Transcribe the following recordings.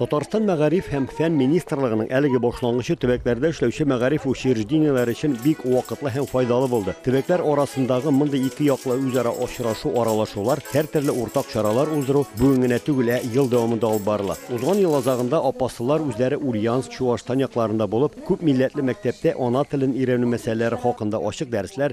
Татарстан мәгариф һәм фән министрлыгының әлеге башлангычы төбәкләрдә эшләүче мәгариф учреждениеләре өчен бик вакытлы һәм файдалы булды. Төбәкләр арасындагы мондый ике яклы үзара очрашу, аралашулар, һәртөрле уртак чаралар уздыру бүген генә түгел, ә ел дәвамында алып барыла. Узган ел азагында апаслылар үзләре Ульяновск, Чуашстан якларында булып, күп милләтле мәктәптә ана телен өйрәнү мәсьәләләре хакында ачык дәресләр,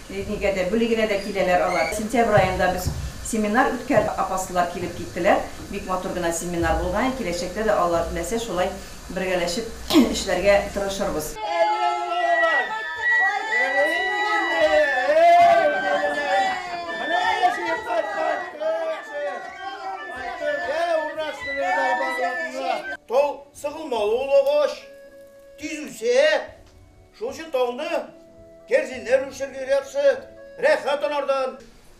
Нигә дә, бүли генә дә киләләр алар. Сентябрь аенда без семинар үткәрдек, апаслылар килеп киттеләр. Бик матур гына семинар булган. Киләчәктә дә Алла теләсә, шулай бергәләшеп эшләргә тырышырбыз. Тол, сыгылмалы ул агач, тиз үсә. Шушы таңны кәрзиннәр үрчергә яхшы, рәхәт анардан.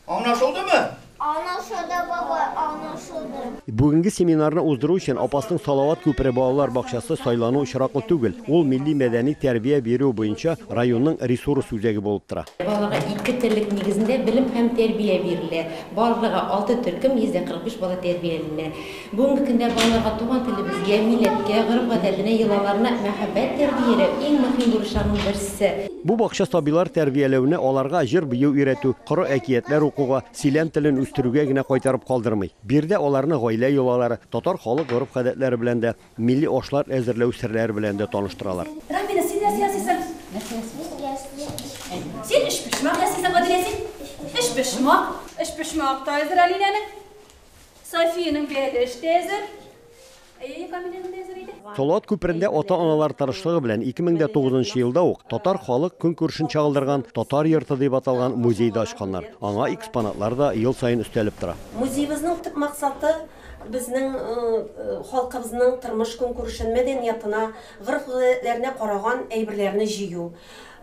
Аңлашылдымы? Аңлашылды, бабай, аңлашылды. Бүгенге семинарны уздыру өчен Апасның Салават күпере балалар бакчасы сайлану очраклы түгел. Ул милли-мәдәни тәрбия бирү буенча районның ресурс үзәге булып тора. Балага ике терлек нигезендә белем һәм тәрбия бирелә. Барлыгы алты төркем, 145 бала тәрбияләнә. Бүгенге көндә балаларга туган телебезгә, милләткә, гореф-гадәтенә, йолаларына мәхәббәт тәрбияләү, иң мөһим бурычларның берсе. Бу бакча сабыйлар тәрбияләүне аларга җыр-бию өйрәтү, коры әкиятләр укуга, сөйләм телен үстерүгә генә кайтарып калдырмый. Биредә аларны гаилә йолалары, татар халык гореф-гадәтләре белән дә, милли ашлар әзерләү серләре белән дә таныштыралар. Рамина, син нәрсә ясыйсың? Нәрсә ясыйсың? Мин өчпочмак. Син өчпочмак ясыйсың, Гадилә, син? Өчпочмак. Өчпочмак та әзер Алинәнең. Софиянең бәлеш тә әзер. Әйе, Камиләнең дә әзер иде. Салават күперендә ата-аналар тырышлыгы белән 2009 нчы елда ук татар халык көнкүрешен чагылдырган Татар йорты дип аталган музей да ачканнар. Аңа экспонатлар да ел саен өстәлеп тора. Музеебезнең төп максаты, безнең халкыбызның тормыш-көнкүрешен, мәдәниятына, гореф-гадәтләренә караган әйберләрне җыю.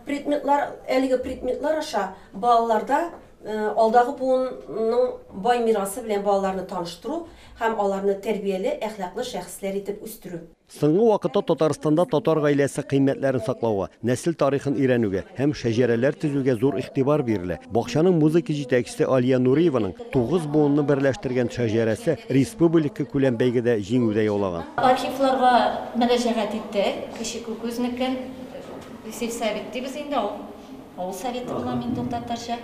Предметлар, әлеге предметлар аша балаларда Алдагы буынның бай мирасы белән балаларны таныштыру һәм аларны тәрбияле, әхлаклы шәхесләр итеп үстерү. Соңгы вакытта Татарстанда татар гаиләсе кыйммәтләрен саклауга, нәсел тарихын өйрәнүгә һәм шәҗәрәләр төзүгә зур игътибар бирелә. Бакчаның музыка җитәкчесе Алия Нуриеваның тугыз буынны берләштергән шәҗәрәсе республикакүләм бәйгедә җиңүдә яулаган. Архивларга мөрәҗәгать иттек, Кече Күкүзнекен, сельсовет дибез инде ул. Авыл Советы була мин тол татарча.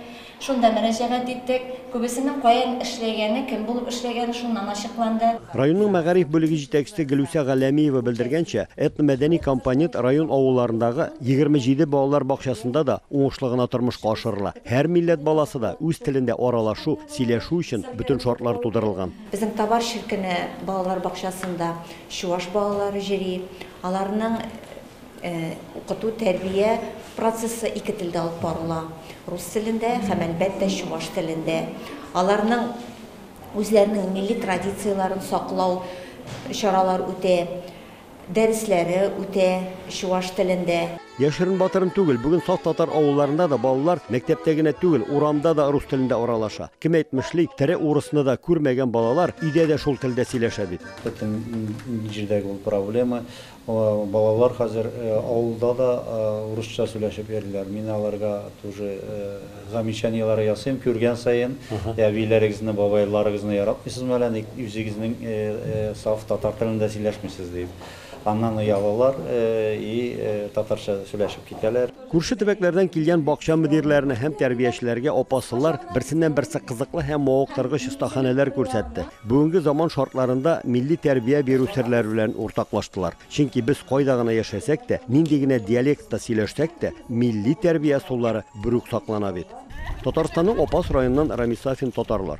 Шунда мөрәҗәгать иттек. Күбесенең каян эшләгәне, кем булып эшләгәне шуннан ачыкланды. Районның мәгариф бүлеге җитәкчесе Гөлүсә Галләмиева белдергәнчә, этномәдәни компонент район авылларындагы 27 балалар бакчасында да уңышлы гына тормышка ашырыла. Һәр милләт баласы да үз телендә аралашу, сөйләшү өчен бөтен шартлар тудырылган. Безнең Табар Ширкене балалар бакчасында чуваш балалары йөри. Аларның. Укыту, тәрбия процессы ике телдә алып барыла, рус телендә һәм, әлбәттә, чуваш телендә. Аларның үзләренең милли традицияләрен саклау чаралар үтә, дәресләре үтә чуваш телендә. Яшерен-батырын түгел, бүген саф татар авылларында да балалар мәктәптә генә түгел, урамда да рус телендә аралаша. Кем әйтмешли, тере урысны да күрмәгән балалар өйдә дә шул телдә сөйләшә бит. Бөтен җирдәге ул проблема. Балалар хәзер авылда да урысча сөйләшеп йөриләр. Мин аларга тоже замечаниеләр ясыйм, күргән саен. Әбиләрегезне, бабайларыгызны яратмыйсызмы әллә ник, үзегезнең саф татар телендә сөйләшмисез, дип. Аннан оялалар и татарча сөйләшеп китәләр. Күрше төбәкләрдән килгән бакча мөдирләренә һәм тәрбиячеләргә апа-сылар берсеннән-берсе кызыклы һәм мавыктыргыч остаханәләр күрсәтте. Бүгенге заман шартларында милли тәрбия бирү серләре белән уртаклаштылар. Чөнки без кайда гына яшәсәк тә, нинди генә диалектта сөйләшсәк тә, милли тәрбия ысуллары берүк саклана бит. Татарстанның Апас районыннан Рамис Сафин, Татарлар.